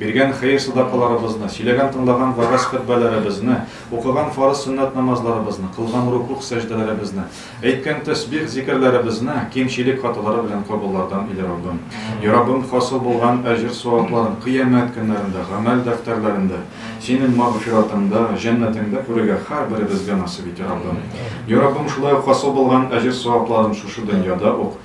Биргән хәер-садакаларыбызны, сөйләгән-тыңлаган вәгазь-хөтбәләребезне, укыган фарыз-сөннәт намазларыбызны, кылган рукугъ-сәҗдәләребезне, әйткән тәсбих-зикерләребезне кимчелек хаталары белән кабуллардан иле Раббым. И Раббым, хасил булган әҗер-савапларын Кыямәт көннәрендә гамәл дәфтәрләрендә, Синең магъфиратыңда, җәннәтеңдә күрергә һәрберебезгә насыйп ит, и Раббым. И Раббым, шулай ук хасил булган әҗер-савапларын шушы дөньяда ук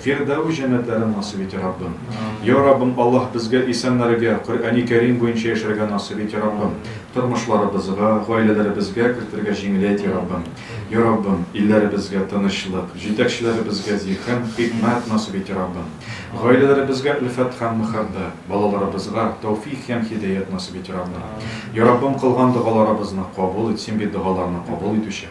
Фирдәвес җәннәтләрен насыйп ит, Раббым. Йа Раббым Аллаһ, безгә исәннәргә, Коръәни Кәрим буенча яшәргә насыйп ит, Раббым. Тормышларыбызга, гаиләләребезгә кертергә җиңеләйт, Йа Раббым. Йа Раббым, илләребезгә тынычлык, җитәкчеләребезгә зиһен, хикмәт насыйп ит, Раббым. Гаиләләребезгә өлфәт һәм мәхәббәт, балаларыбызга тәүфих һәм һидәят насыйп ит, Раббым. Йа Раббым, кылган догаларыбызны кабул ит, Син бит догаларны кабул итүче.